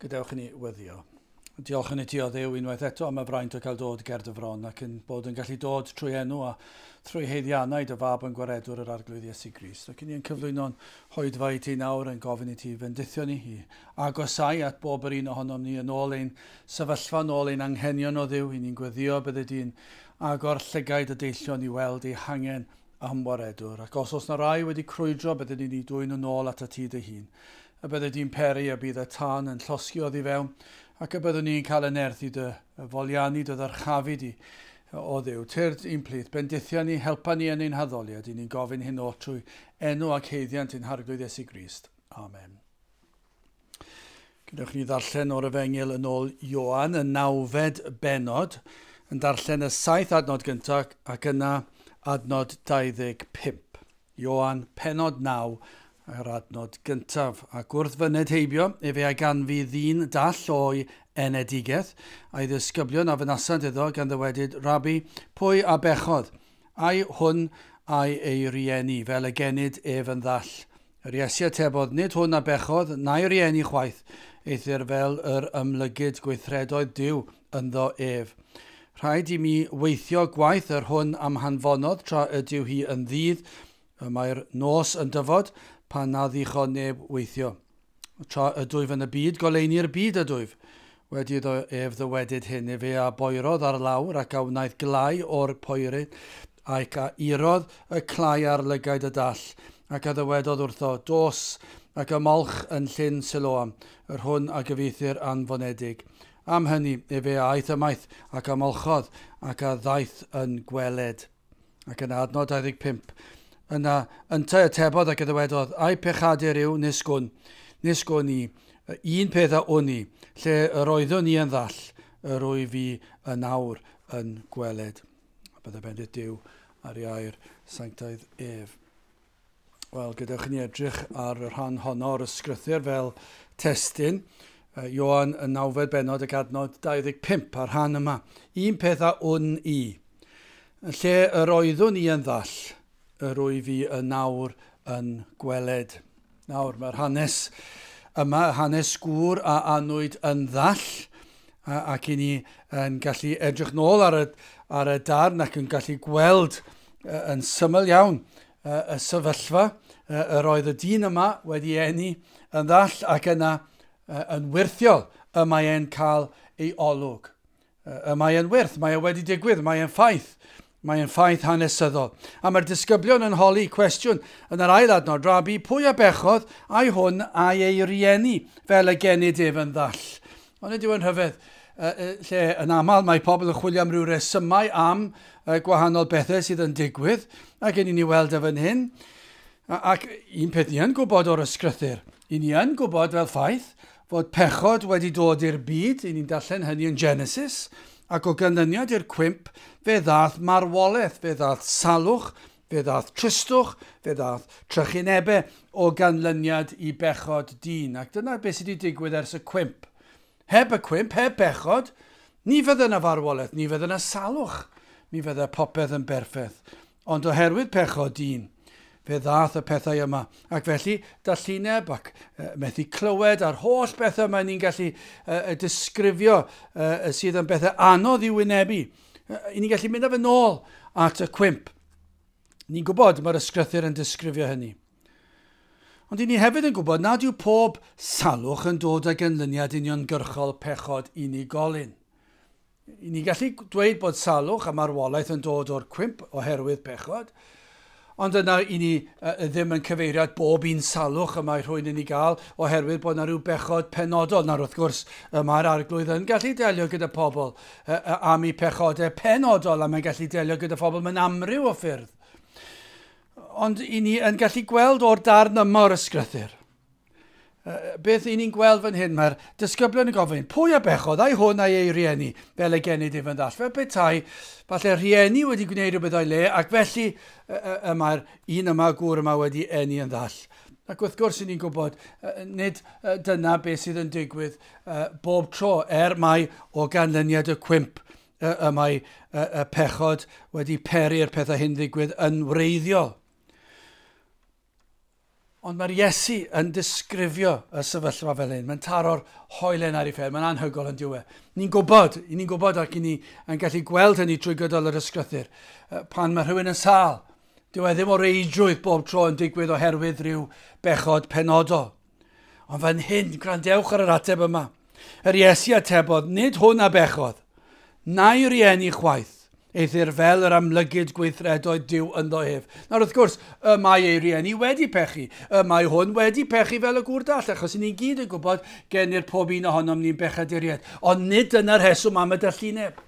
Gadewch i ni weddio. Diolch yn ti o ddew unwaith eto am y fraint o cael dod ger dy fron ac yn bod yn gallu dod trwy enw a thrwy heiddiannau dy fab yn gwaredwr yr arglwydd Iesu Grist. Ac yn ni yn cyflwyno'n hoedfa i ti nawr yn gofyn i ti fendithio ni i agosau at bob yr un ohonom ni yn ôl ein sefyllfa, yn ôl ein anghenion o ddew, i ni'n gweddio bydde di'n agor llygaid y deillion i weld ei hangen am waredwr, ac os oes 'na rai wedi crwydro bydden ni'n eu dwyn yn ôl atat ti dy hun. Y bydde di'n peri a bydd y tân yn llosgi oddi fewn, ac y byddwn ni'n cael y nerth i dy foliannu dy ddyrchafu di. O Dduw, tyrd i'n plith, bendithia ni, helpa ni yn ein haddoliad, i ni'n gofyn hyn oll trwy enw ac haeddiant ein Harglwydd Iesu Grist. Amen. Gwnewch ni ddarllen o'r Efengyl yn ôl Ioan, y nawfed benod, yn darllen y saith adnod gyntaf ac yna adnod 25. Ioan, penod 9, yr adnod gyntaf, ac wrth fyned heibio, efe a ganfu ddyn dall o'i enedigaeth, a'i ddisgyblion a fynasant iddo gan ddywedyd, Rabi, pwy a bechodd? Ai hwn ai ei rieni, fel y genid ef yn ddall? Yr Iesu atebodd, Nid hwn a bechodd, na'i rieni chwaith, eithr fel yr ymlygid gweithredoedd Duw ynddo ef. Rhaid i mi weithio gwaith yr hwn am hanfonodd tra ydyw hi yn ddydd, y mae'r nos yn dyfod, pan na ddichon neb weithio. Tra ydwyf yn y byd, goleuni'r byd ydwyf. Wedi iddo ef ddywedyd hyn, efe a boerodd ar lawr, ac a wnaeth glai o'r poeri, ac a irodd y clai ar lygaid y dall, ac a ddywedodd wrtho, Dos, ac ymolch yn llyn Siloam, yr hwn a gyfieithir Anfonedig. Am hynny, efe a aeth ymaith, ac a molchodd, ac a ddaeth yn gweled. Ac yna, adnod 25. Yna, yntau atebodd ac eddywedodd, Ai pechadur yw, nis gwn, nis gwn i, un peth a wn i, lle yr oeddwn i yn ddall, yr wyf i yn awr yn gweled. A byddai bendith Dyw ar ei air sanctaidd ef. Wel, gadewch i ni edrych ar y rhan honno o'r ysgrythyr fel testyn. Ioan y nawfed benod ac adnod 25 a'r rhan yma. Un peth a wn i. Yn lle yr oeddwn i yn ddall, yr wyf i yn nawr yn gweled. Nawr, mae'r hanes yma, hanes gŵr a anwyd yn ddall, ac i ni yn gallu edrych nôl ar y, ar y darn ac yn gallu gweld yn syml iawn y sefyllfa yr oedd y dyn yma wedi enni yn ddall ac yna yn wirthiol y mae e'n cael ei olwg. Y mae e'n wirth, mae e wedi digwydd, mae e'n ffaith. Mae e'n ffaith hanesyddol. A mae'r disgyblion yn holi cwestiwn yn yr ail adnod, Rabi, pwy a bechodd a'i hwn a'i ei rieni fel y genid ef yn ddall? Onid yw'n rhyfedd, lle yn aml mae pobl yn chwilio am ryw resymau am y gwahanol bethau sydd yn digwydd, ac yn i ni weld e fan hyn, ac un peth ni yn gwybod o'r ysgrythyr, i ni yn gwybod fel ffaith, fod pechod wedi dod i'r byd, i ni'n darllen hynny yn Genesis, ac o ganlyniad i'r cwymp fe ddaeth marwolaeth, fe ddaeth salwch, Fe ddaeth tristwch, fe ddaeth trychinebau o ganlyniad i bechod dyn, ac dyna beth sydd wedi digwydd ers y cwymp. Heb y cwymp, heb bechod, ni fydde yna farwolaeth, ni fydde yna salwch, mi fydde popeth yn berffeth. Ond oherwydd pechod dyn, fe ddaeth y pethau yma. Ac felly, dallineb ac uh, methu clywed a'r holl bethau mae ni'n gallu uh, disgrifio uh, sydd yn bethau anodd i wynebu. I ni'n gallu mynd â fe nôl at y cwymp. Ni'n gwybod mae'r ysgrythyr yn disgrifio hynny. Ond i ni hefyd yn gwybod nad yw pob salwch yn dod â ganlyniad uniongyrchol pechod unigolyn. I ni gallu dweud bod salwch a marwolaeth yn dod o'r cwymp oherwydd pechod, Ond yna i ni ddim yn cyfeirio at bob un salwch y mae rhywun yn ei gael oherwydd bod yna rhyw bechod penodol, nawr wrth gwrs y mae'r Arglwydd yn gallu delio gyda phobl am eu pechodau penodol a mae'n gallu delio gyda phobl mewn amryw o ffyrdd. Ond i ni yn gallu gweld o'r darn yma o'r ysgrythyr, beth i ni'n gweld fan hyn, mae'r disgyblion yn gofyn, pwy a bechodd, ai hwn ai ei rieni, fel y genid ef yn ddall. Fel petai, falle rhieni wedi gwneud rhywbeth o'i le, ac felly y, y, y mae'r un yma, gŵr yma wedi enni yn ddall. Ac wrth gwrs, i ni'n gwybod, nid dyna beth sydd yn digwydd bob tro, er mae o ganlyniad y cwymp y mae y pechod wedi peri'r pethau hyn ddigwydd yn wreiddiol. Ond mae'r Iesu yn disgrifio y sefyllfa fel hyn. Mae'n taro'r hoelen ar ei phen. Mae'n anhygol yn diwe. Ni'n gwybod, i ni'n gwybod ac i ni yn gallu gweld hynny trwy gydol yr ysgrythyr. Pan mae rhywun yn sal, dyw e ddim o reidrwydd bob tro yn digwydd oherwydd rhyw bechod penodol. Ond fan hyn, gwrandewch ar yr ateb yma. Yr Iesu atebodd, nid hwn a bechodd, na'i rieni chwaith, eithr fel yr amlygid gweithredoedd Dyw ynddo ef. Nawr wrth gwrs, y mae ei rieni wedi pechu, y mae hwn wedi pechu fel y gŵr dall, achos ni'n gyd yn gwybod genir pob un ohonom ni'n bechaduriaid, ond nid dyna'r rheswm am y dallineb.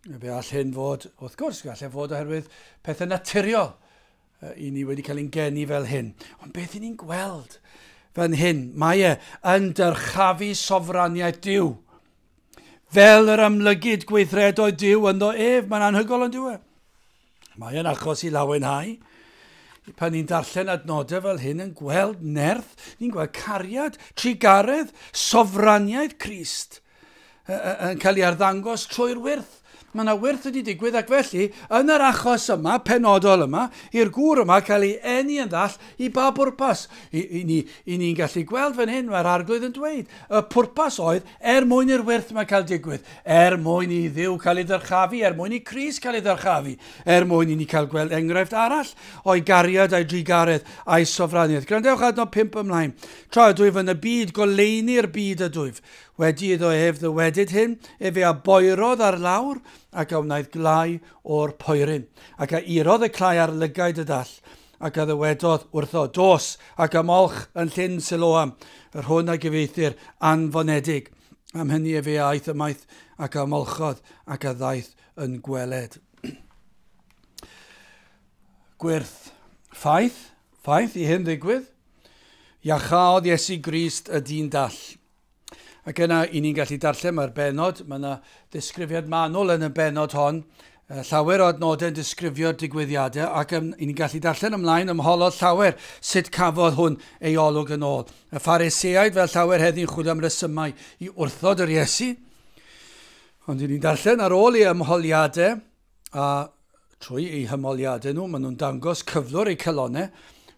Fe all hyn fod, wrth gwrs, gall e fod oherwydd pethau naturiol i ni wedi cael ein geni fel hyn. Ond beth i ni'n gweld fan hyn? Mae e yn dyrchafu sofraniaeth Dyw. Fel yr amlygid gweithredoedd Dyw ynddo ef, mae'n anhygol yn diwy. E? Mae yn achos i lawenhau. Pan ni'n darllen adnodau fel hyn yn gweld nerth, ni'n gweld cariad, trugaredd, sofraniaeth Christ yn cael ei arddangos trwy'r wyrth. Mae yna wyrth wedi digwydd ac felly, yn yr achos yma, penodol yma, i'r gŵr yma cael ei enni yn ddall i ba bwrpas. I, i ni, i ni'n gallu gweld fan hyn, mae'r arglwydd yn dweud, y pwrpas oedd Er mwyn i'r wyrth 'ma cael digwydd, er mwyn i Dduw cael ei ddyrchafu, er mwyn i Crist cael ei ddyrchafu, er mwyn i ni cael gweld enghraifft arall o'i gariad a'i drugaredd a'i sofraniaeth. Gwrandewch adnod 5 ymlaen. Tra ydw ef yn y byd, goleuni'r byd ydwyf. Wedi iddo ef ddywedyd hyn, efe a boerodd ar lawr, ac a wnaeth glai o'r poeryn, ac a irodd y clai ar lygaid y dall, Ac a ddywedodd wrtho, Dos, ac ymolch yn llyn Siloam, yr hwn a gyfieithir anfonedig. Am hynny efe a aeth ymaith, ac a ymolchodd, ac a ddaeth yn gweled. Gwyrth, ffaith, ffaith i hyn ddigwydd, Iachaodd Iesu Grist y dyn dall. Ac yna, i ni'n gallu darllen, mae'r benod, mae yna ddisgrifiad manwl yn y benod hon, llawer o adnodau yn disgrifio'r digwyddiadau ac yn, ni'n gallu darllen ymlaen ym mholol llawer sut cafodd hwn ei olwg yn ôl. Y phariseaid fel llawer heddi'n chwilio am resymau i wrthod yr Iesu, ond ni'n darllen ar ôl ei ymholiadau, a trwy eu hymoliadau nhw, maen nhw'n dangos cyflwr eu calonau,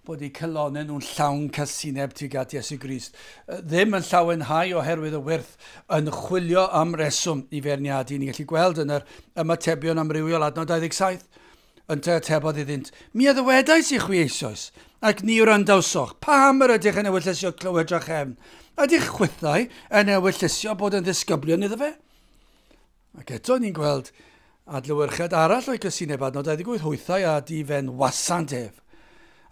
bod eu calonau nhw'n llawn casineb tuag at Iesu Grist. Ddim yn llawenhau oherwydd y wyrth yn chwilio am reswm i feirniadu. Ni'n gallu gweld yn yr ymatebion amrywiol adnod 27 yn te atebodd iddynt, mi a ddywedais i chwi eisoes, ac ni wrandawsoch, pam yr ydych yn ewyllysio clywed drachefn? Ydych chwithau yn ewyllysio bod yn ddisgyblion iddo fe? Ac eto ni'n gweld adlewyrchiad arall o'i gysineb adnod 28 hwythau a di fen wasant ef,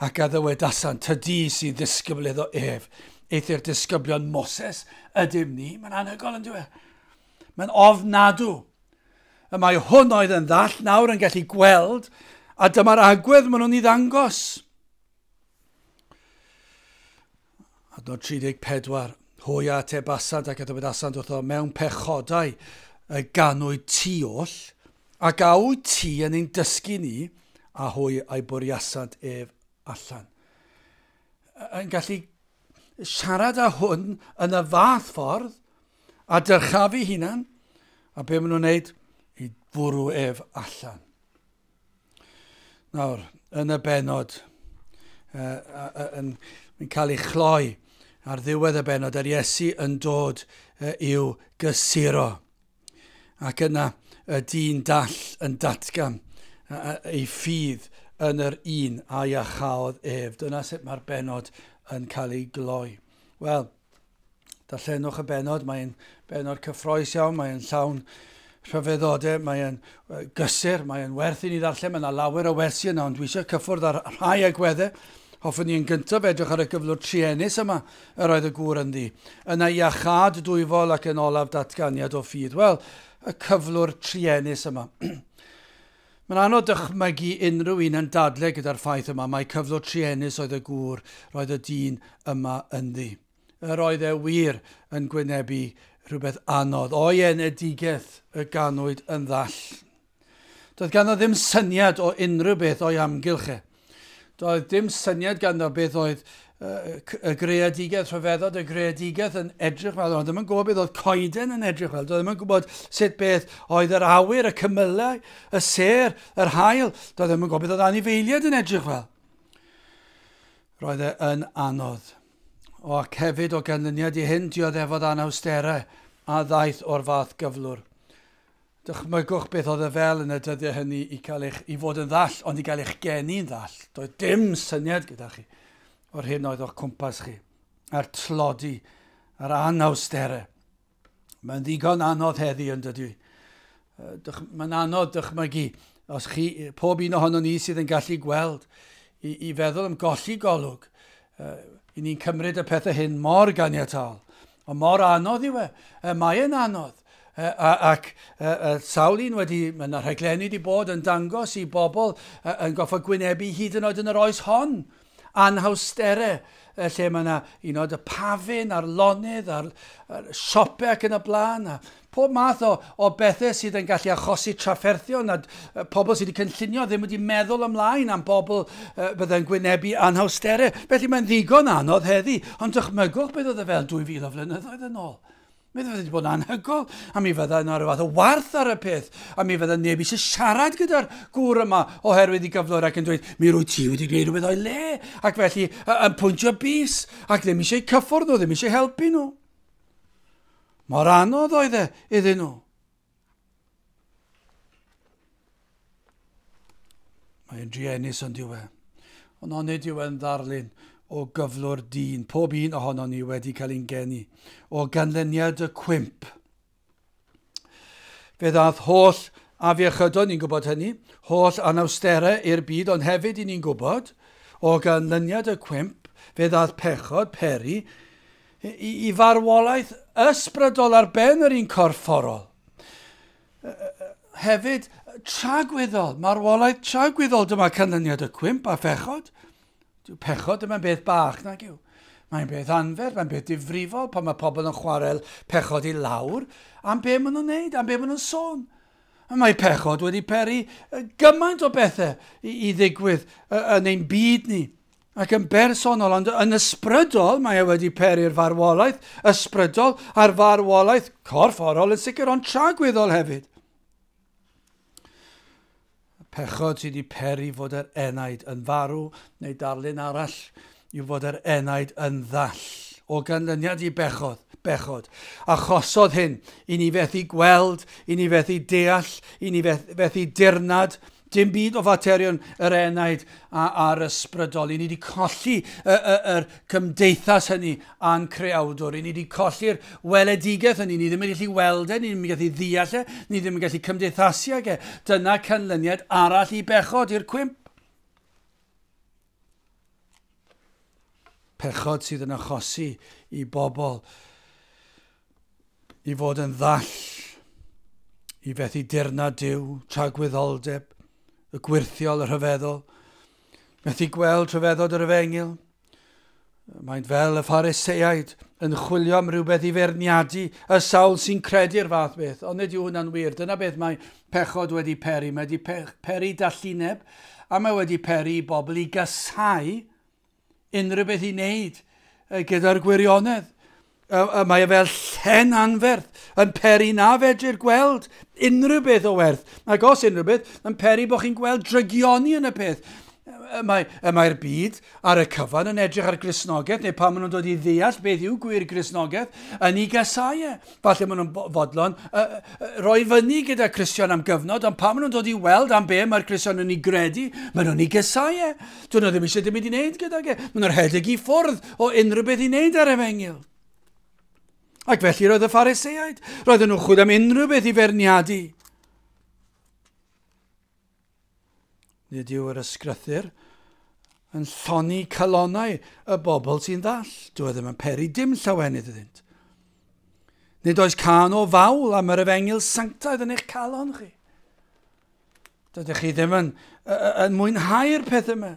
ac a ddywedasant, tydi sy'n ddisgybl iddo ef, eithr disgyblion Moses ydym ni, mae'n anhygol yn dweud. Mae'n ofnadw. Y mae hwn oedd yn ddall nawr yn gallu gweld, a dyma'r agwedd maen nhw'n ei ddangos. Adnod 34. Hwy a atebasant ac a dywedasant wrtho mewn pechodau y ganwyd ti oll, ac a wyt ti yn ein dysgu ni, a hwy a'i bwriasant ef allan. Yn gallu siarad â hwn yn y fath ffordd a dyrchafu hunan a be maen nhw'n wneud i fwrw ef allan. Nawr, yn y benod, uh, uh, yn, yn cael ei chloi ar ddiwedd y benod, yr Iesu yn dod uh, i'w gysuro. Ac yna y dyn dall yn datgan uh, ei ffydd yn yr un a iachaodd ef. Dyna sut mae'r benod yn cael ei gloi. Wel, Darllenwch y benod, mae'n benod cyffroes iawn, mae'n llawn rhyfeddode, mae'n gysur, mae'n werth i ni ddarllen, mae yna lawer o wersi yna, ond dwi eisiau cyffwrdd ar rhai agweddau. Hoffwn ni yn gyntaf edrych ar y gyflwr trienus yma yr oedd y gŵr ynddi. Yna iachad dwyfol ac yn olaf datganiad o ffydd. Wel, y cyflwr trienus yma. Mae'n anodd dychmygu unrhyw un yn dadle gyda'r ffaith yma mai cyflwr truenus oedd y gŵr roedd y dyn yma ynddi. Yr oedd e wir yn gwynebu rhywbeth anodd o'i enedigeth y ganwyd yn ddall. Doedd ganddo ddim syniad o unrhyw beth o'i amgylch e. Doedd dim syniad ganddo beth oedd y greadigaeth, rhyfeddod y greadigaeth yn edrych fel, oedd ddim yn gwybod beth oedd coeden yn edrych fel, doedd ddim yn gwybod sut beth oedd yr awyr, y cymylau, y ser, yr hael, doedd ddim yn gwybod beth oedd anifeiliaid yn edrych fel. Roedd e yn anodd. O, ac hefyd o ganlyniad i hyn, dioddefodd anawsterau a ddaeth o'r fath gyflwr. Dychmygwch beth oedd e fel yn y dyddiau hynny i cael eich, i fod yn ddall, ond i gael eich geni'n ddall. Doedd dim syniad gyda chi o'r hyn oedd o'ch cwmpas chi, a'r tlodi, a'r anawsterau. Mae'n ddigon anodd heddi yn dydy. Mae'n anodd dychmygu os chi, pob un ohono ni sydd yn gallu gweld, i, i feddwl am golli golwg. Uh, I ni'n cymryd y pethau hyn mor ganiataol. Ond mor anodd yw e. e mae e'n anodd. E, a, ac e, e, sawl un wedi, mae yna rhaglenni wedi bod yn dangos i bobl e, yn goffa gwynebu hyd yn oed yn yr oes hon anhawstere e, lle mae yna un oed y pafin a'r lonydd a'r, a'r siopau ac yn y blaen a Pob math o o bethe sydd yn gallu achosi trafferthion a pobl sydd wedi cynllunio ddim wedi meddwl ymlaen am bobl fydde'n gwynebu anhawstere. Felly mae'n ddigon anodd heddi, ond dychmygwch beth oedd y fel 2000 o flynyddoedd yn ôl. Mi fydde wedi bod yn anhygoel, a mi fydda yna rhyw fath o warth ar y peth, a mi fydda neb eisiau siarad gyda'r gŵr yma oherwydd i gyflwr ac yn dweud, mi rwy ti wedi gwneud rhywbeth o'i le, ac felly yn pwyntio bys, ac ddim eisiau cyffwrdd nhw, ddim eisiau helpu nhw. Mor anodd oedd e iddyn nhw. Mae'n druenus ond yw e. Ond onid yw e'n ddarlun o gyflwr dyn, pob un ohono ni wedi cael ein geni, o ganlyniad y cwymp. Fe ddath holl afiechydon, ni'n gwybod hynny, holl anawsterau i'r byd, ond hefyd i ni'n gwybod, o ganlyniad y cwymp, fe ddath pechod, peri, Y farwolaeth ysbrydol ar ben yr un corfforol. Hefyd, tragwyddol, marwolaeth tragwyddol, dyma canlyniad y cwymp a phechod. Dyw pechod ddim yn beth bach nag yw. Mae'n beth anfer, mae'n beth difrifol pan mae pobl yn chwarael pechod i lawr am be maen nhw'n neud, am be maen nhw'n sôn. Mae pechod wedi peri gymaint o bethau i, i ddigwydd yn ein byd ni. ac yn bersonol ond yn ysbrydol, mae e wedi peri'r farwolaeth ysbrydol a'r farwolaeth corfforol yn sicr ond tragwyddol hefyd. Pechod sydd wedi peri fod yr enaid yn farw neu darlun arall yw fod yr enaid yn ddall o ganlyniad i bechod, bechod. Achosodd hyn i ni fethu gweld, i ni fethu deall, i ni fethu dirnad, Dim byd o faterion yr enaid a, a'r ysbrydol. I ni wedi colli y, y, yr cymdeithas hynny a'n creawdwr. I ni wedi colli'r weledigaeth hynny. Ni ddim yn gallu weld e, ni ddim yn gallu ddeall e, ni ddim yn gallu cymdeithasu ag e. Dyna canlyniad arall i bechod, i'r cwymp. pechod sydd yn achosi i bobl i fod yn ddall i fethu dirna diw, tragwyddoldeb, y gwirthiol, y rhyfeddol, methu gweld rhyfeddod yr efengyl, Mae'n fel y Phariseaid yn chwilio am rhywbeth i ferniadu y sawl sy'n credu'r fath beth, ond nid yw hwnna'n wir. Dyna beth mae pechod wedi peri. Mae wedi peri dallineb, a mae wedi peri i bobl i gasau unrhyw beth i wneud gyda'r gwirionedd. A, a mae e fel llen anferth, yn peri na fedrir gweld unrhyw beth o werth. Ac os unrhyw beth, yn peri bod chi'n gweld drygioni yn y peth. Y mae, y mae'r byd ar y cyfan yn edrych ar grisnogaeth, neu pan maen nhw'n dod i ddeall beth yw gwir grisnogaeth, yn ei gasau e. Falle maen nhw'n fodlon uh, uh, roi fyny gyda Christian am gyfnod, ond pan maen nhw'n dod i weld am be mae'r Christian yn ei gredu, maen nhw'n ei gasau e. Dw nhw ddim eisiau dim byd i wneud gydag e. Mae nhw'n rhedeg i ffwrdd o unrhyw beth i wneud ar efengyl. Ac felly roedd y phariseaid, roedden nhw'n chwyd am unrhyw beth i ferniadu. Nid yw yr ysgrythyr yn lloni calonau y bobl sy'n ddall. Dw ddim yn peri dim llawenydd iddynt. Nid oes can o fawl am yr efengyl sanctaidd yn eich calon chi. Dydych chi ddim yn, yn mwynhau'r pethau yma.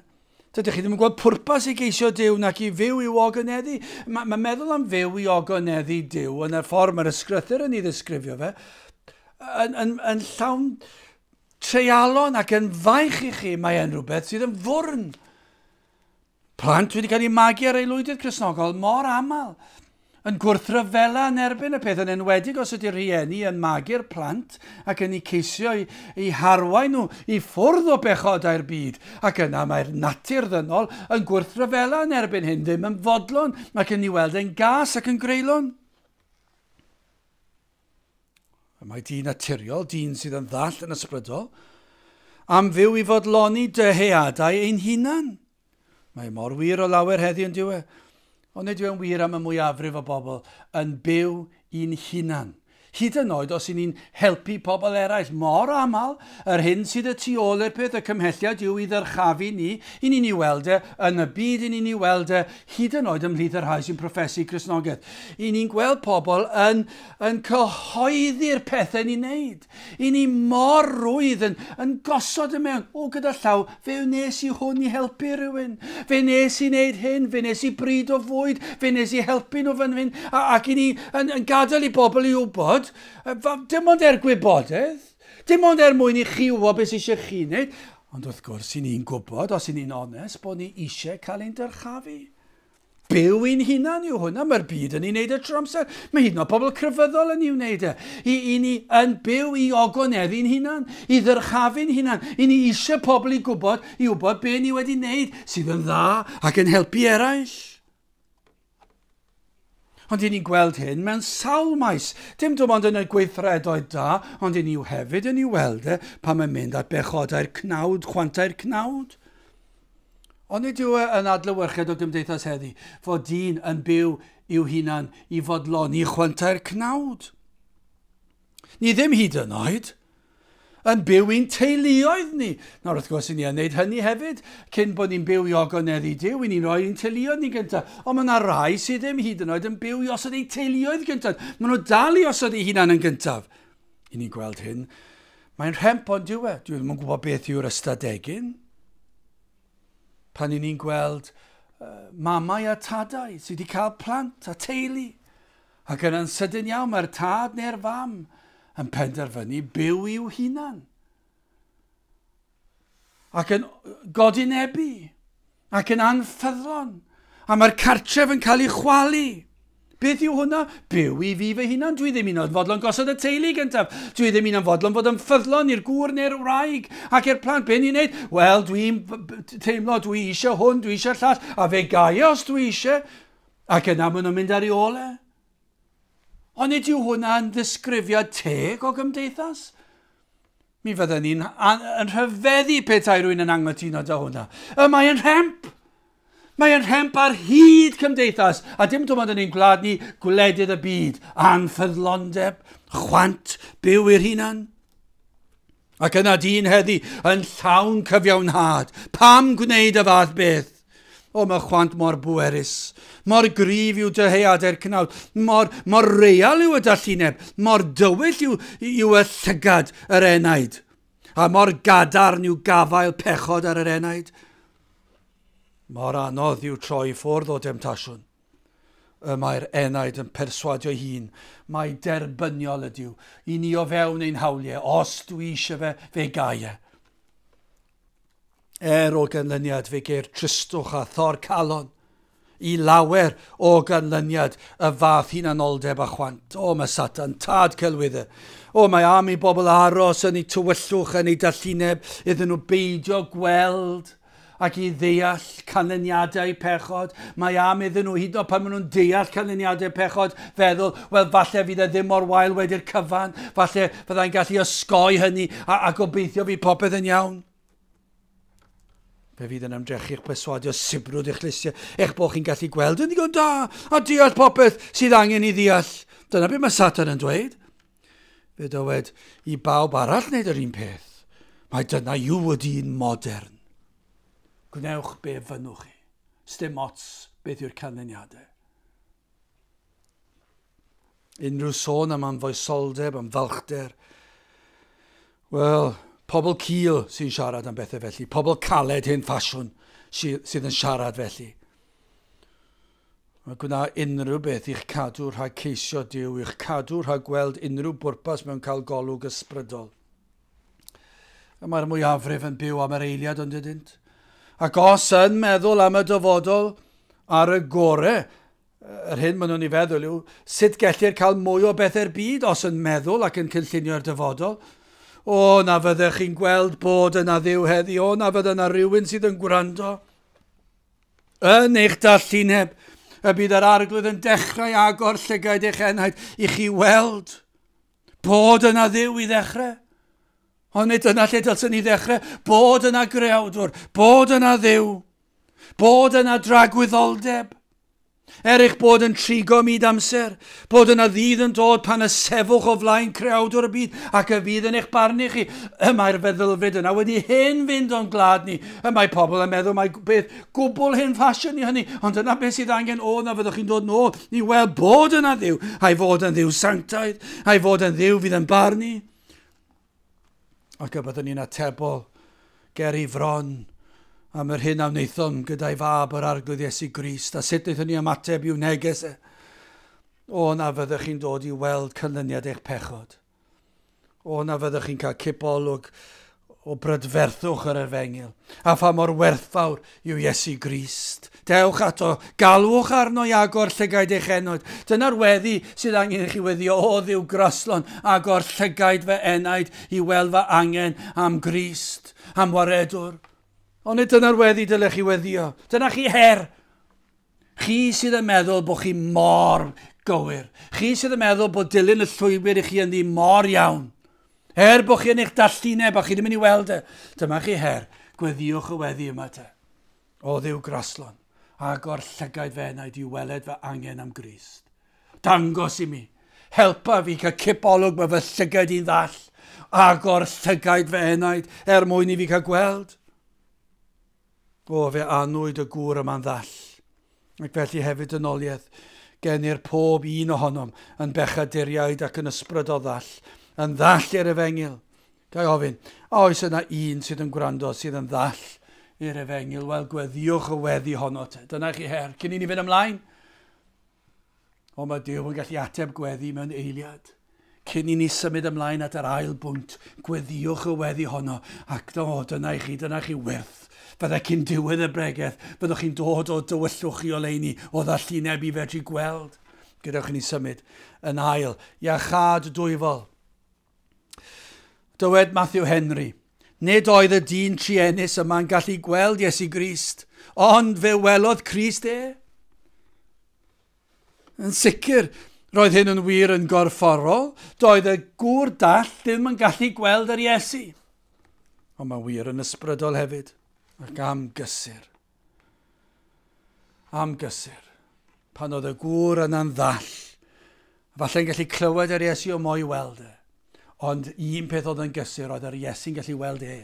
Dydych chi ddim yn gweld pwrpas i geisio Dyw nac i fyw i'w ogoneddu. Mae, mae meddwl am fyw i ogoneddu Dyw yn y ffordd mae'r ysgrythyr yn ei ddisgrifio fe, yn, yn, yn llawn treialon ac yn faich i chi, mae e'n rhywbeth sydd yn fwrn. Plant wedi cael eu magu ar aelwydydd Cristnogol mor aml yn gwrthryfela yn erbyn y peth yn enwedig os ydy'r rhieni yn magu'r plant ac yn eu ceisio eu harwain nhw i ffwrdd o bechodau'r byd, ac yna mae'r natur ddynol yn gwrthryfela yn erbyn hyn, ddim yn fodlon ac yn ei weld e'n gas ac yn greulon. Y mae dyn naturiol, dyn sydd yn ddall yn ysbrydol, am fyw i fodloni dyheadau ein hunan. Mae e mor wir o lawer heddi yn diwe, ond nid yw'n wir am y mwyafrif o bobl yn byw i'n hunan. Hyd yn oed os i ni'n helpu pobl eraill, mor aml, yr hyn sydd y tu ôl i'r peth, y cymhelliad yw i ddyrchafu ni, i ni'n ei weld e, yn y byd i ni'n ei weld e, hyd yn oed ymhlith y rhai sy'n profesu Cristnogaeth. I ni'n gweld pobl yn, yn cyhoeddi'r pethau ni'n neud. I ni mor rwydd yn, yn gosod y mewn. O, gyda llaw, fe wnes i hwn i helpu rhywun. Fe nes i wneud hyn, fe nes i bryd o fwyd, fe nes i helpu nhw fan hyn. Ac i ni yn, yn gadael i bobl i wybod, dim ond er gwybodaeth, Dim ond er mwyn i chi wybod beth sydd eisiau chi wneud, ond wrth gwrs i ni'n gwybod, os i ni'n onest, bod ni eisiau cael ein dyrchafu. Byw i'n hunan yw hwnna, mae'r byd yn ei wneud y tro amser, mae hyd yn oed pobl crefyddol yn ei wneud e. I, i ni yn byw i ogoneddi'n hunan, i ddyrchafu'n hunan, i ni eisiau pobl i gwybod, i wybod be ni wedi wneud sydd yn dda ac yn helpu eraill. Ond i ni'n gweld hyn mewn sawl maes, dim dim ond yn y gweithredoedd da, ond i ni yw hefyd yn ei weld e pan mae'n mynd at bechodau'r cnawd, chwantau'r cnawd. Ond nid yw e yn adlewyrchiad o gymdeithas heddi, fod dyn yn byw i'w hunan i fodloni chwantau'r cnawd. Ni ddim hyd yn oed yn byw i'n teuluoedd ni. Nawr, wrth gwrs, i ni yn wneud hynny hefyd, cyn bod ni'n byw i ogoneddau i Duw, i ni'n rhoi ein teuluoedd ni gyntaf. Ond mae yna rai sydd ddim hyd yn oed yn byw i osod eu teuluoedd gyntaf. Mae nhw dal i osod eu hunan yn gyntaf. I ni'n gweld hyn. Mae'n rhemp ond diw e. Dwi ddim yn gwybod beth yw'r ystadegyn. Pan i ni'n gweld uh, mamau a tadau sydd wedi cael plant a teulu, Ac yna'n sydyn iawn mae'r tad neu'r fam yn penderfynu byw i'w hunan. Ac yn godi'n ebu, ac yn anffyddlon, a mae'r cartref yn cael ei chwalu. Beth yw hwnna? Byw i fi fy hunan. Dwi ddim un o'n fodlon gosod y teulu gyntaf. Dwi ddim un o'n fodlon fod yn ffyddlon i'r gŵr neu'r wraig ac i'r plant. Be ni'n neud? Wel, dwi'n teimlo, dwi eisiau hwn, dwi eisiau llall, a fe gael os dwi eisiau. Ac yna maen nhw'n mynd ar ei ôl e. Ond nid yw hwnna'n ddisgrifiad teg o gymdeithas. Mi fydden ni'n yn rhyfeddu petai rwy'n yn anghytuno da hwnna. Y mae yn rhemp. Mae yn rhemp ar hyd cymdeithas, a dim dim ond yn ein gwlad ni, gwledydd y byd, anffyddlondeb, chwant, byw i'r hunan. Ac yna dyn heddi yn llawn cyfiawnhad. Pam gwneud y fath beth? O, mae chwant mor bwerus. Mor gryf yw dyheadu'r cnawd. Mor, mor real yw y dallineb. Mor dywyll yw, yw y llygad yr enaid. A mor gadarn yw gafael pechod ar yr enaid. Mor anodd yw troi ffwrdd o demtasiwn. Y mae'r enaid yn perswadio hun mai derbyniol ydyw i ni o fewn ein hawliau os dwi eisiau fe, fe gai e. Er o ganlyniad fe geir tristwch a thor calon, i lawer o ganlyniad y fath hunanoldeb a chwant. O, mae Satan, tad celwydde. O, mae am i bobl aros yn eu tywyllwch, yn eu dallineb, iddyn nhw beidio gweld Ac i ddeall canlyniadau pechod, mae am iddyn nhw, hyd yn oed pan maen nhw'n deall canlyniadau pechod, feddwl, wel, falle fydd e ddim mor wael wedi'r cyfan, falle fyddai'n gallu osgoi hynny, a, a gobeithio fydd popeth yn iawn. Fe fydd yn ymdrechu eich perswadio sibrwd eich llysiau, eich bod chi'n gallu gweld yn ddigon da a deall popeth sydd angen i ddeall. Dyna beth mae Satan yn dweud. Fe dywed i bawb arall wneud yr un peth. Mae dyna yw y dyn modern. Gwnewch be fynnwch chi. Sdim ots beth yw'r canlyniadau. Unrhyw sôn am anfoesoldeb, am falchder. Wel, pobl cil sy'n siarad am bethau felly. Pobl caled hen ffasiwn sydd yn siarad felly. A gwna unrhyw beth i'ch cadw rhag ceisio Duw, i'ch cadw rhag gweld unrhyw bwrpas mewn cael golwg ysbrydol. Y mae'r mwyafrif yn byw am yr eiliad ond ydynt. Ac os yn meddwl am y dyfodol ar y gore, yr hyn maen nhw'n ei feddwl yw, sut gellir cael mwy o bethau'r byd os yn meddwl ac yn cynllunio'r dyfodol? O, na fyddech chi'n gweld bod yna ddiw heddi, o, na fydda yna rhywun sydd yn gwrando. Yn eich darllineb, y bydd yr Arglwydd yn dechrau agor llygaid eich enaid i chi weld bod yna ddiw i ddechrau. Ond nid dyna lle dylsyn ni ddechrau, bod yna greawdwr, bod yna ddiw, bod yna dragwyddoldeb. Er eich bod yn trigo myd amser, bod yna ddydd yn dod pan y sefwch o flaen creawdwr y byd ac y fydd yn eich barnu chi, y mae'r feddylfryd yna wedi hen fynd o'n gwlad ni, y mae pobl yn meddwl mae beth gwbl hen ffasiwn i hynny, ond dyna beth sydd angen oedd na fyddwch chi'n dod nôl i weld bod yna ddiw, a'i fod yn ddiw sanctaidd, a'i fod yn ddiw fydd yn barnu. ac y byddwn ni'n atebol ger ei fron am yr hyn a wnaethom gyda'i fab yr Arglwydd Iesu Grist, a sut wnaethon ni ymateb i'w neges e, o na fyddwch chi'n dod i weld cynlyniad eich pechod. O na fyddwch chi'n cael cipolwg o brydferthwch yr efengil, a pha mor werthfawr yw Iesu Grist. Dewch ato, galwch arno i agor llygaid eich enaid. Dyna'r weddi sydd angen i chi weddio, O ddiw graslon, agor llygaid fy enaid i weld fy angen am Grist, am waredwr. Onid dyna'r weddi dylech chi weddio? Dyna chi her! Chi sydd yn meddwl bod chi mor gywir. Chi sydd yn meddwl bod dilyn y llwybr i chi yn ddi mor iawn. Er bod chi yn eich dallineb a chi ddim yn ei weld e, dyma chi her, gweddiwch y weddi yma te. O ddiw graslon, agor llygaid fe na i di weled fy angen am Grist. Dangos i mi, helpa fi cael cipolwg mae fy llygaid i'n ddall, agor llygaid fy enaid er mwyn i fi cael gweld. O, fe anwyd y gŵr yma'n ddall. Ac felly hefyd yn oliaeth, genir pob un ohonom yn bechaduriaid ac yn ysbryd o ddall, yn ddall i'r Efengyl. Ga'i ofyn, a oes yna un sydd yn gwrando sydd yn ddall i'r Efengyl? Wel, gweddiwch y weddi honno te. Dyna chi her. Cyn i ni fynd ymlaen, Ond mae Duw yn gallu ateb gweddi mewn eiliad. Cyn i ni symud ymlaen at yr ail bwynt, gweddiwch y weddi honno, ac do, dyna i chi, dyna chi wyrth. Fyddai cyn diwedd y bregeth, byddwch chi'n dod o dywyllwch chi oleuni, o ddallineb i fedru gweld. Gadewch i ni symud yn ail, iachâd dwyfol. Dywed Matthew Henry, Nid oedd y dyn trienus yma'n gallu gweld Iesu Grist, ond fe welodd Crist e. Yn sicr, roedd hyn yn wir yn gorfforol, doedd y gŵr dall ddim yn gallu gweld yr Iesu. Ond mae'n wir yn ysbrydol hefyd, ac am gysur. Am gysur. Pan oedd y gŵr yna'n ddall, falle'n gallu clywed yr Iesu o mo'i weld e. Ond un peth oedd yn gysur oedd yr Iesu'n gallu weld e.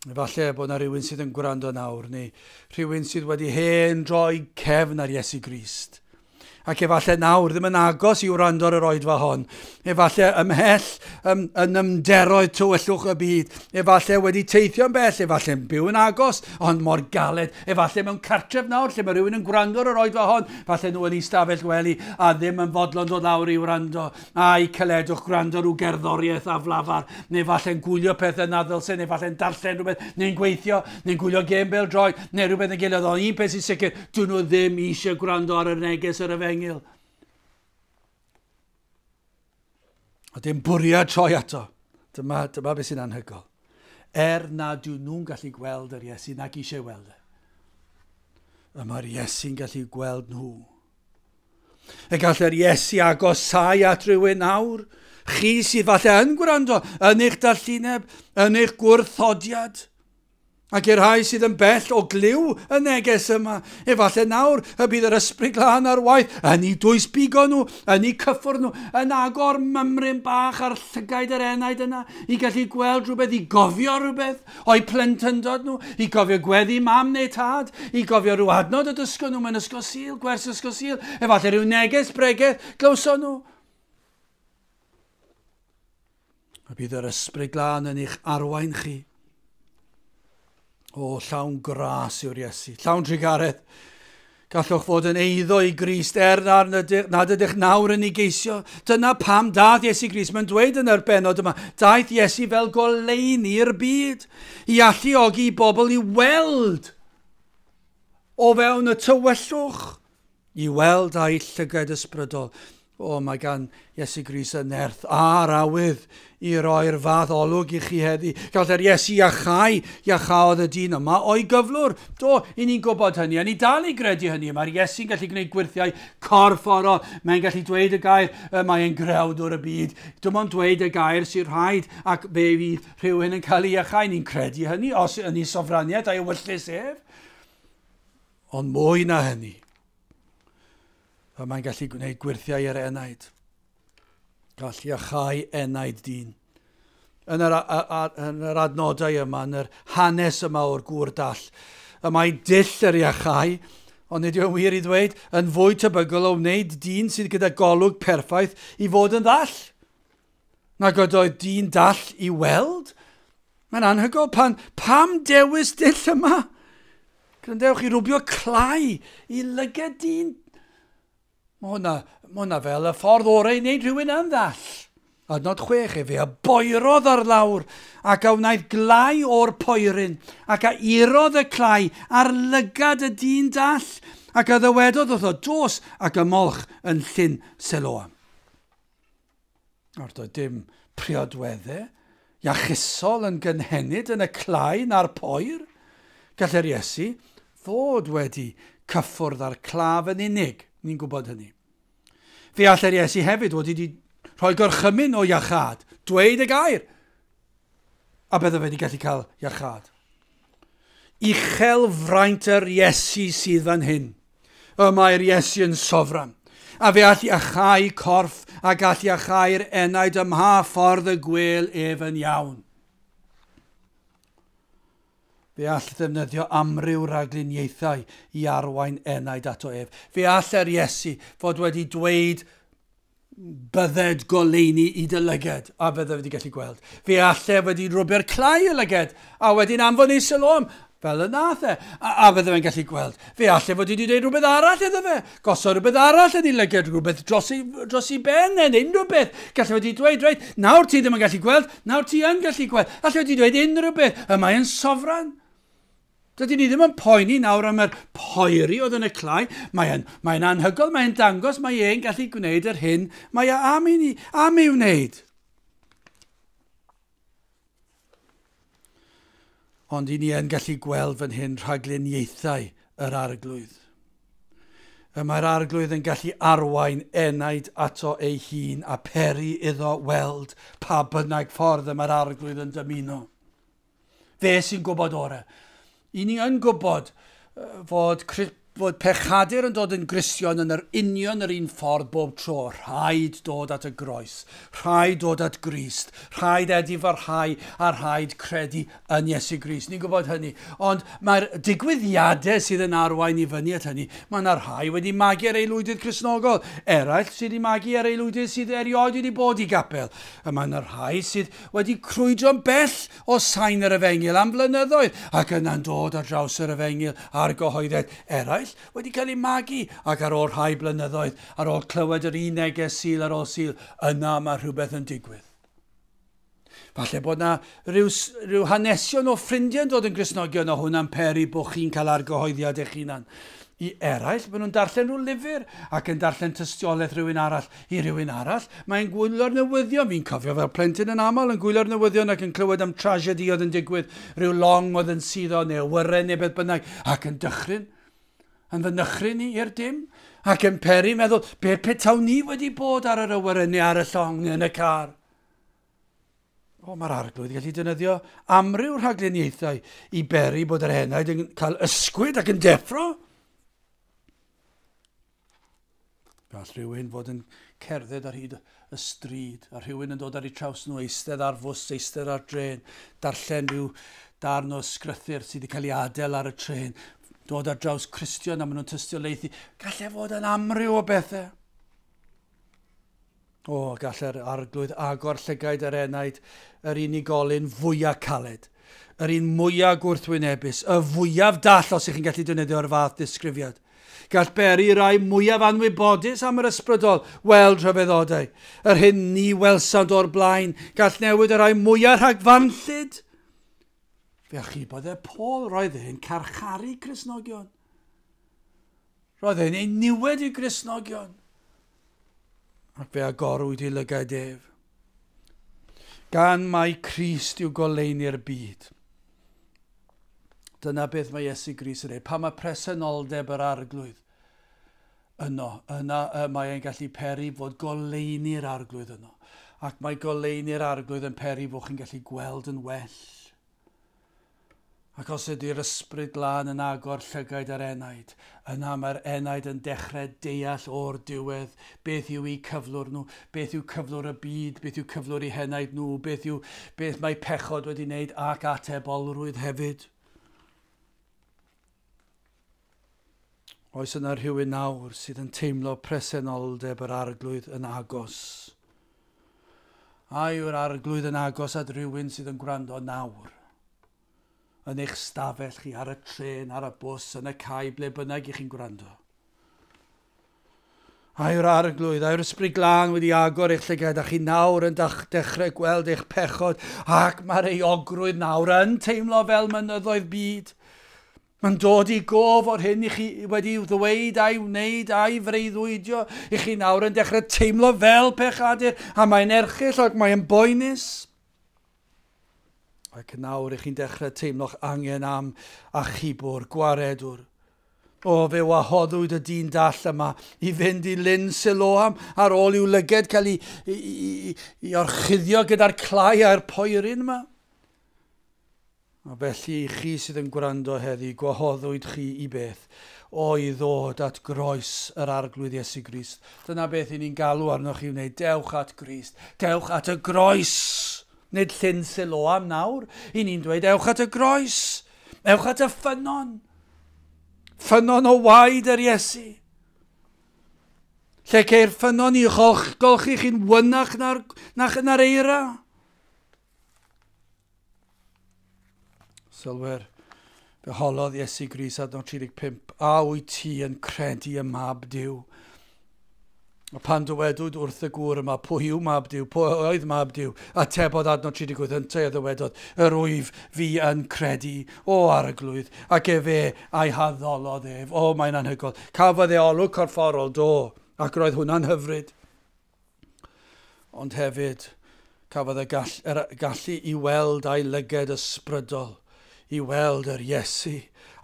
Falle bod yna rhywun sydd yn gwrando nawr, neu rhywun sydd wedi hen droi cefn ar Iesu Grist. ac efallai nawr ddim yn agos i wrando ar yr oedfa hon, efallai ymhell ym, yn ymderoedd tywyllwch y byd, efallai wedi teithio'n bell, efallai yn byw yn agos, ond mor galed, efallai mewn cartref nawr lle mae rhywun yn gwrando ar yr oedfa hon, efallai nhw yn ei stafell wely a ddim yn fodlon dod lawr i wrando, Ai caledwch gwrando rhyw gerddoriaeth aflafar, neu falle'n gwylio pethau na ddylse, neu falle'n darllen rhywbeth, neu'n gweithio, neu'n gwylio gêm bel droed, neu rhywbeth yn gilydd, ond un peth sy'n sicr, dyn nhw ddim eisiau gwrando ar y neges yr efengyl. A dim bwriad troi ato. Dyma, dyma beth sy'n anhygol. Er na dyn nhw'n gallu gweld yr Iesu nag eisiau weld e. Y mae'r Iesu'n gallu gweld nhw. Y gallai'r Iesu agosau at rywun nawr, chi sydd falle yn gwrando, yn eich dallineb, yn eich gwrthodiad. Ac i'r rhai sydd yn bell o glyw y neges yma, efallai nawr y bydd yr ysbryd glân ar waith yn ei dwys bigo nhw, yn ei cyffwrdd nhw, yn agor mymryn bach ar llygaid yr enaid yna, i gallu gweld rhywbeth, i gofio rhywbeth. O'u plentyndod nhw, i gofio gweddi mam neu tad, i gofio rhyw adnod y dysgon nhw mewn ysgol sil, gwers ysgol sil, efallai rhyw neges bregeth glywson nhw. A bydd yr ysbryd glân yn eich arwain chi. O, llawn gras yw'r Iesu, llawn trigaredd. Gallwch fod yn eiddo i Grist er nad ydych nawr yn ei geisio. Dyna pam daeth Iesu Grist. Mae'n dweud yn yr benod yma, daeth Iesu fel goleuni i'r byd, i alluogi i bobl i weld o fewn y tywyllwch, i weld â'i llyged ysbrydol. O, mae gan Iesu Grist y nerth a'r awydd i roi'r fath olwg i chi heddi. Gallai'r Iesu iachau, iachaodd y dyn yma o'i gyflwr. Do, i ni'n gwybod hynny, a ni dal i gredu hynny. Mae'r Iesu'n gallu gwneud gwyrthiau corfforol. Mae'n gallu dweud y gair, y mae e'n grewdwr y byd. Dim ond dweud y gair sy'n rhaid, ac fe fydd rhywun yn cael ei iachau. Ni'n credu hynny, os yn ei sofraniaeth a'i wyllus ef. Ond mwy na hynny. Fel mae'n gallu gwneud gwyrthiau ar enaid. Gall iachau enaid dyn. Yn yr, a, a, yn yr adnodau yma, yn yr hanes yma o'r gŵr dall, y mae dull yr iachau, ond nid yw'n wir i ddweud, yn fwy tebygol o wneud dyn sydd gyda golwg perffaith i fod yn ddall. nag oedd oedd dyn dall i weld. Mae'n anhygoel pan... Pam dewis dull yma? Gryndewch i rwbio clai i lyged dyn. Mae hwnna, mae hwnna fel y ffordd orau i wneud rhywun yn ddall. Adnod chwech, efe a boerodd ar lawr, ac a wnaeth glai o'r poeryn, ac a irodd y clai ar lygad y dyn dall, ac a ddywedodd wrtho, dos ac ymolch yn llyn Seloam. Nawr, doedd dim priodweddau iachusol yn gynhenid yn y clai na'r poer. Gallai'r Iesu fod wedi cyffwrdd â'r claf yn unig, ni'n gwybod hynny. Fe allai'r Iesu hefyd wedi wedi rhoi gorchymyn o iachad, dweud y gair, a byddo wedi gallu cael iachad. Uchel fraint yr Iesu sydd fan hyn. Y mae'r Iesu yn sofran, a fe all iachau corff a gall iachau'r enaid ym mha ffordd y gwel ef yn iawn. Fe all ddefnyddio amryw ragluniaethau i arwain enaid ato ef. Fe all yr Iesu fod wedi dweud bydded goleuni i dy lyged, a bydded wedi gallu gweld. Fe allai wedi rwbio'r clai y lyged, a wedyn anfon ei sylom, fel y nath e, a, a fydde fe'n gallu gweld. Fe allai fod wedi dweud rhywbeth arall iddo fe, gosod rhywbeth arall yn ei lyged, rhywbeth dros ei, dros ei ben e, neu unrhyw beth. Gallai wedi dweud, reit, nawr ti ddim yn gallu gweld, nawr ti yn gallu gweld. Allai wedi dweud unrhyw beth, y mae yn sofran. Dydyn ni ddim yn poeni nawr am yr poeri oedd yn y clai. Mae e'n, mae e'n anhygoel, mae'n dangos mae e'n gallu gwneud yr hyn mae e am i ni, am ei wneud. Ond i ni yn gallu gweld fan hyn rhagluniaethau yr arglwydd. Y mae'r arglwydd yn gallu arwain enaid ato ei hun a peri iddo weld pa bynnag ffordd y mae'r arglwydd yn dymuno. Fe sy'n gwybod orau. I ni yn gwybod fod, fod pechadur yn dod yn Gristion yn yr union yr un ffordd bob tro. Rhaid dod at y groes. Rhaid dod at Grist. Rhaid edifarhau a rhaid credu yn Iesu Grist. Ni'n gwybod hynny. Ond mae'r digwyddiadau sydd yn arwain i fyny at hynny, mae yna rhai wedi magu ar ei lwydydd Cresnogol, eraill sydd wedi magu ar ei lwydydd sydd erioed wedi bod i gapel. A mae yna rhai sydd wedi crwydro'n bell o sain yr Efengyl am flynyddoedd ac yna'n dod ar draws yr Efengyl a'r gyhoeddiad eraill wedi cael eu magu ac ar ôl rhai blynyddoedd, ar ôl clywed yr un neges Sul ar ôl Sul, yna mae rhywbeth yn digwydd. Falle bod yna rhyw, rhyw hanesion o ffrindiau yn dod yn grisnogion a hwnna'n peri bod chi'n cael argyhoeddiad eich hunan. I eraill, maen nhw'n darllen rhyw lyfr ac yn darllen tystiolaeth rhywun arall I rywun arall, mae'n gwylio'r newyddion. Fi'n cofio fel plentyn yn aml yn gwylio'r newyddion ac yn clywed am tragedi oedd yn digwydd, rhyw long oedd yn suddo neu awyren neu beth bynnag, ac yn dychryn, yn fy nychryn i i'r dim, ac yn peri meddwl, be petawn ni wedi bod ar yr awyren neu ar y llong neu yn y car? O, mae'r arglwydd gallu defnyddio amryw rhagluniaethau i beri bod yr henaid yn cael ysgwyd ac yn deffro. Gall rhywun fod yn cerdded ar hyd y stryd, a rhywun yn dod ar eu traws nhw, eistedd ar fws, eistedd ar dren, darllen rhyw darn o sgrythyr sydd wedi cael ei adael ar y tren, dod ar draws Cristion a maen nhw'n tystio leithi. Gallai fod yn amryw o bethau. O, gall yr Arglwydd agor llygaid yr enaid, yr unigolyn fwya' caled, yr un mwya' gwrthwynebus, y fwyaf dall, os ych chi'n gallu defnyddio'r fath ddisgrifiad. Gall beri rai mwyaf anwybodus am yr ysbrydol weld rhyfeddodau, yr hyn ni welsant o'r blaen, gall newid y rhai mwyaf rhagfarnllyd. Fe achubodd e Paul, roedd e'n carcharu Crisnogion. Roedd e'n ei niwed i Grisnogion. ac fe agorwyd i lygaid ef. Gan mai Crist yw goleuni'r byd. Dyna beth mae Iesu Gris yn ei. Pa mae presenoldeb yr arglwydd yno, yna y mae e'n gallu peri fod goleuni'r arglwydd yno. Ac mae goleuni'r arglwydd yn peri fod chi'n gallu gweld yn well. Ac os ydy'r Ysbryd Glân yn agor llygaid yr enaid, yna mae'r enaid yn dechrau deall o'r diwedd beth yw eu cyflwr nhw, beth yw cyflwr y byd, beth yw cyflwr eu henaid nhw, beth yw beth mae pechod wedi wneud ac atebolrwydd hefyd. Oes yna rhywun nawr sydd yn teimlo presenoldeb yr Arglwydd yn agos? A yw'r Arglwydd yn agos at rywun sydd yn gwrando nawr? Yn eich stafell chi, ar y trên, ar y bws, yn y cae, ble bynnag i chi'n gwrando. A yw'r Arglwydd, a yw'r Ysbryd Glân wedi agor eich llygaid, a chi nawr yn dechrau gweld eich pechod, ac mae'r euogrwydd nawr yn teimlo fel mynyddoedd byd? Mae'n dod i gof o'r hyn i chi wedi ddweud a'i wneud a'i freuddwydio, i chi nawr yn dechrau teimlo fel pechadur, a mae'n erchill ac mae'n boenus. Ac nawr ych chi'n dechrau teimlo'ch angen am achubwr, gwaredwr. O, fe wahoddwyd y dyn dall yma i fynd i Lyn Siloam ar ôl i'w lyged cael ei, ei, ei, ei orchuddio gyda'r clai a'r poerin yma. A felly, i chi sydd yn gwrando heddi, gwahoddwyd chi i beth? O, i ddod at groes yr Arglwydd Iesu Grist. Dyna beth i ni'n galw arnoch chi wneud. Dewch at Grist. Dewch at y groes! Nid llyn Siloam nawr. I ni'n dweud, ewch at y groes. Ewch at y ffynon. Ffynon o waed yr Iesu. Lle ceir ffynon i golch, golchi chi'n wynach na'r, nach yna'r eira. Sylwer, fe holodd Iesu Gris adnod 35, a wyt ti yn credu y mab Dyw? A pan dywedwyd wrth y gŵr yma, pwy yw mab Dyw, pwy oedd mab Dyw, a tebodd adnod 38 yntau a ddywedodd, yr wyf fi yn credu, o arglwydd, ac efe a'i haddolodd ef. O, mae'n anhygoel. Cafodd e olwg corfforol, do, ac roedd hwnna'n hyfryd. Ond hefyd, cafodd y gall, er, gallu i weld a'i lyged ysbrydol, i weld yr Iesu,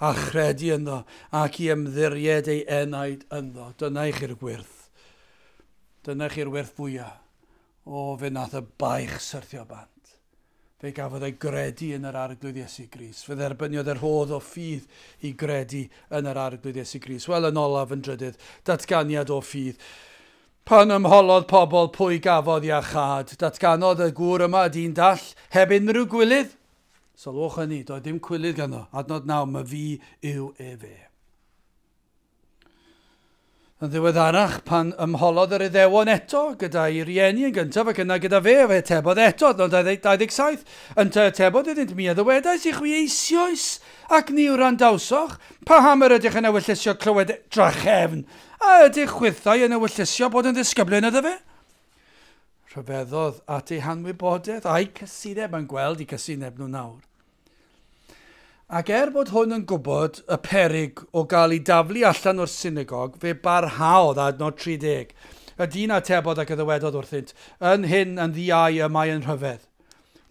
a chredu ynddo, ac i ymddiried ei enaid ynddo. Dyna i chi'r wyrth. Dyna chi'r wyrth fwyaf o fe nath y baich syrthio bant. Fe gafodd ei gredu yn yr Arglwydd Iesu Grist. Fe dderbyniodd y rhodd o ffydd i gredu yn yr Arglwydd Iesu Grist. Wel, yn olaf, yn drydydd, datganiad o ffydd. Pan ymholodd pobl pwy gafodd iachâd, datganodd y gŵr yma dyn dall, heb unrhyw gwilydd. Sylwch hynny, doedd dim cwilydd ganddo. Adnod naw, myfi yw efe. Yn ddiweddarach, pan ymholodd yr Iddewon eto gyda'i rieni yn gyntaf ac yna gyda fe, fe atebodd eto, adnod 27, Yntau atebodd iddynt mi a ddywedais i chwi eisioes, ac ni wrandawsoch, paham yr ydych yn ewyllysio clywed drachefn? A ydych chwithau yn ewyllysio bod yn ddisgyblyn iddo fe? Rhyfeddodd at eu hanwybodeth, a'u cysineb, a'n gweld i cysineb nhw nawr. Ac er bod hwn yn gwybod y peryg o gael ei daflu allan o'r synagog, fe barhaodd, adnod 30. Y dyn atebodd ac y ddywedodd wrthynt, Yn hyn yn ddiau y mae yn rhyfedd.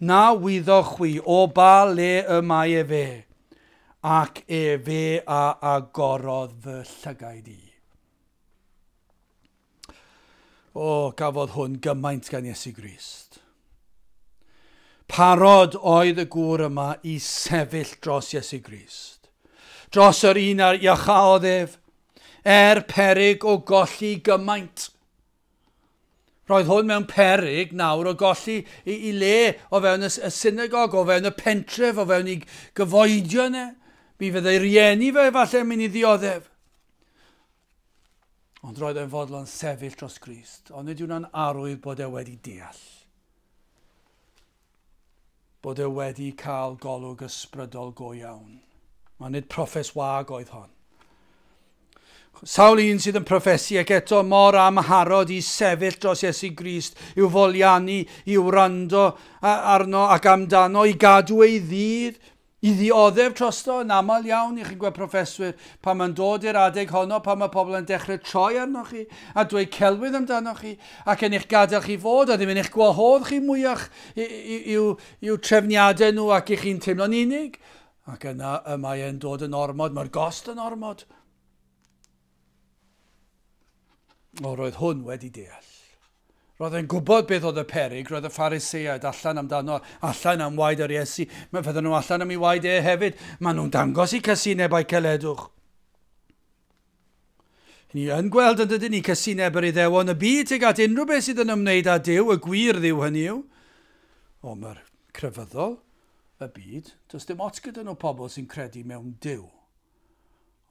Na wyddoch chwi o ba le y mae efe, ac efe a agorodd fy llygaid i. O, gafodd hwn gymaint gan Iesu Grist. Parod oedd y gŵr yma i sefyll dros Iesu Grist, dros yr un ar iachaodd ef, er perig o golli gymaint. Roedd hwn mewn perig nawr o golli i, i le o fewn y, y synagog, o fewn y pentref, o fewn i gyfoedion e. Mi fydde ei rieni fe efallai mynd i ddioddef. Ond roedd e'n fodlon sefyll dros Grist, ond nid yw'n arwydd bod e wedi deall. Bod e wedi cael golwg ysbrydol go iawn. Mae nid profes wag oedd hon. Sawl un sydd yn profesi ac eto mor amharod i sefyll dros Iesu Grist, i'w foliannu, i'w wrando arno ac amdano, i gadw ei ddydd, I ddioddef trosto, yn aml iawn, y'ch chi'n gweld proffeswyr, pan mae'n dod i'r adeg honno, pan mae pobl yn dechrau troi arnoch chi a dweud celwydd amdanoch chi, ac yn eich gadael chi fod, a ddim yn eich gwahodd chi mwyach i'w i'w trefniadau nhw ac i chi'n teimlo'n unig, ac yna y mae e'n dod yn ormod, mae'r gost yn ormod. O, roedd hwn wedi deall. Roedd e'n gwybod beth oedd y peryg, roedd y Phariseaid allan amdano, allan am waed yr Iesu, mae fydden nhw allan am ei waed e hefyd, maen nhw'n dangos i casineb a'i celedwch. Ni yn gweld yn dydyn ni casineb yr iddewon y byd tuag at unrhyw beth sydd yn ymwneud â Dyw, y gwir ddiw hynny yw. O, mae'r crefyddol y byd, does dim ots gyda nhw pobl sy'n credu mewn Dyw.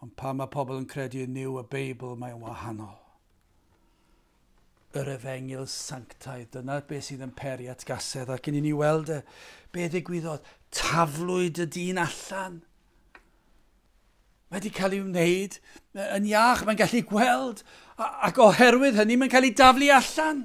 Ond pan mae pobl yn credu yn Nyw y Beibl, mae'n wahanol. yr efengyl sanctaidd. Dyna beth sydd yn peri at gasedd. Ac yn i ni weld e, be ddigwyddodd? Taflwyd y dyn allan. Mae wedi cael ei wneud yn iach, mae'n gallu gweld, ac oherwydd hynny mae'n cael ei daflu allan.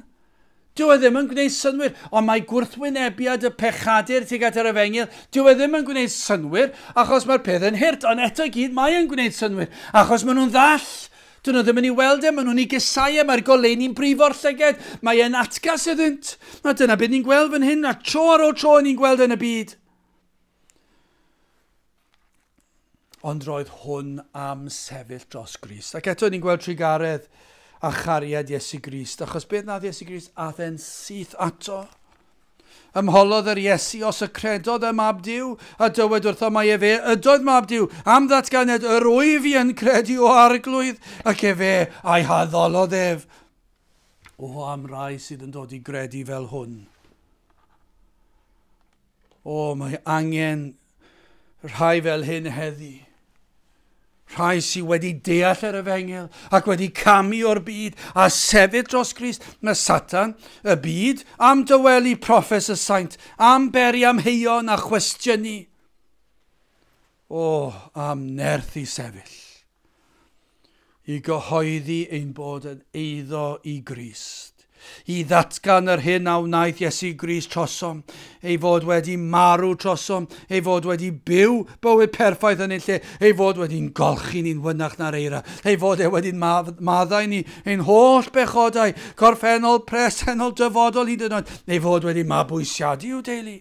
Dyw e ddim yn gwneud synwyr, ond mae gwrthwynebiad y pechadur tuag at yr efengyl, dyw e ddim yn gwneud synwyr, achos mae'r peth yn hirt, ond eto gyd mae'n gwneud synwyr, achos maen nhw'n ddall Dyn nhw ddim yn ei weld e, maen nhw'n ei gesau e, mae'r goleuni'n brifo'r llyged, mae e'n atgas iddynt. A dyna beth ni'n gweld fan hyn, a tro ar ôl tro ni'n gweld yn y byd. Ond roedd hwn am sefyll dros Grist. Ac eto ni'n gweld trigaredd a chariad Iesu Grist, achos beth nath Iesu Grist, ath e'n syth ato. Ymholodd yr Iesu os y credodd ym Mab Duw, a dywed wrtho mai efe ydoedd Mab Duw, am ddatganed yr wyf i yn credu o Arglwydd, ac efe a'i haddolodd ef. O, am rai sydd yn dod i gredu fel hwn. O, mae angen rhai fel hyn heddi. Rhai sydd wedi deall yr efengil ac wedi camu o'r byd a sefyll dros Grist, mae Satan, y byd, am dywelu proffes y saint, am beri am heion a chwestiynu. O, am nerth i sefyll. i gyhoeddi ein bod yn eiddo i Grist, i ddatgan yr hyn a wnaeth Iesu Grist trosom, ei fod wedi marw trosom, ei fod wedi byw bywyd perffaith yn ei lle, ei fod wedi'n golchi ni'n fynach na'r eira, ei fod e wedi'n maddau ni ein holl bechodau, corffennol, presennol, dyfodol hyd yn oed, ei fod wedi mabwysiadu i'w deulu.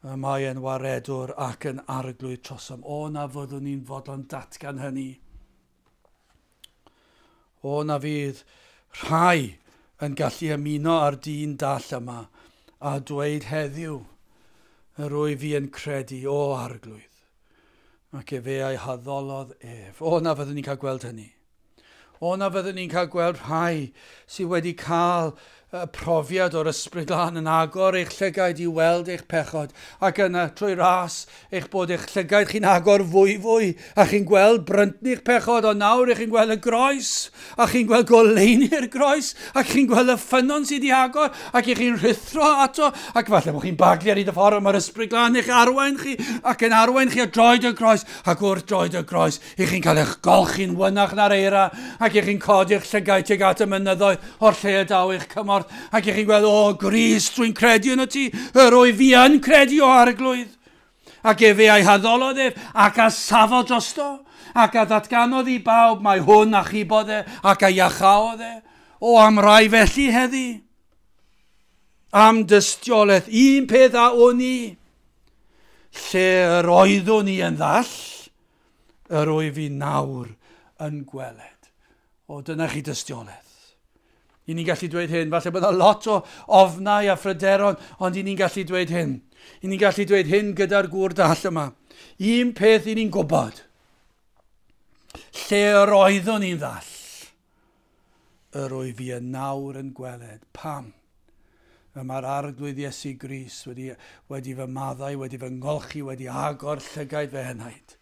Y mae yn waredwr ac yn arglwydd trosom. O na fyddwn i'n fodlon datgan hynny. O na fydd rhai yn gallu ymuno â'r dyn dall yma a dweud heddiw yr wyf fi yn credu, o arglwydd, ac efe ei haddolodd ef. O na fyddwn i'n cael gweld hynny. O na fyddwn ni'n cael gweld rhai sydd wedi cael y profiad o'r Ysbryd Glân yn agor eich llygaid i weld eich pechod, ac yna, trwy ras eich bod eich llygaid chi'n agor fwyfwy, a chi'n gweld bryntni'ch pechod, ond nawr ych chi'n gweld y groes, a chi'n gweld goleuni'r groes, ac chi'n gweld y ffynnon sydd wedi agor, ac ych chi'n rhuthro ato, ac falle bod chi'n baglu ar hyd y ffordd, mae'r Ysbryd Glân eich arwain chi, ac yn arwain chi at droed y groes, ac wrth droed y groes, I chi'n cael eich golchi'n wynach na'r eira, ac i chi'n codi eich llygaid tuag at y mynyddoedd o'r lle y daw eich cymorth, ac i chi'n gweld, o, Gris, dwi'n credu yn y ti, yr o'i fi yn credu o arglwydd. Ac efe a'i haddolodd ef, ac a safodd drosto, ac a ddatganodd i bawb, mae hwn a chibodd e, ac a iachaodd e. O, am rai felly heddi. Am dystiolaeth, un peth a wn i, lle yr oeddwn i yn ddall, Yr wyf i nawr yn gweled. O, dyna chi dystiolaeth. I ni'n gallu dweud hyn, falle bod yna lot o ofnau a phryderon, ond i ni'n gallu dweud hyn. I ni'n gallu dweud hyn gyda'r gŵr dall yma. Un peth i ni'n gwybod, lle yr oeddwn i'n ddall, Yr wyf i yn nawr yn gweled. Pam? Y mae'r Arglwydd Iesu Grist wedi, wedi fy maddau, wedi fy ngolchi, wedi agor llygaid fy henaid.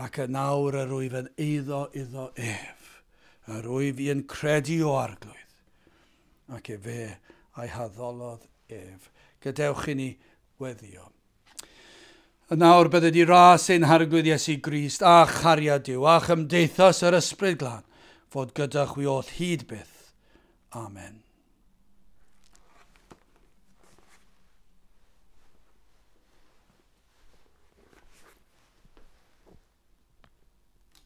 Ac yn nawr yr wyf yn eiddo iddo ef. Yr wyf i yn credu o Arglwydd. Ac efe a'i haddolodd ef. Gadewch i ni weddio. Yn awr bydde di ras ein Harglwydd Iesu Grist a chariad Duw a chymdeithas yr Ysbryd Glân fod gyda chwi oll hyd byth. Amen.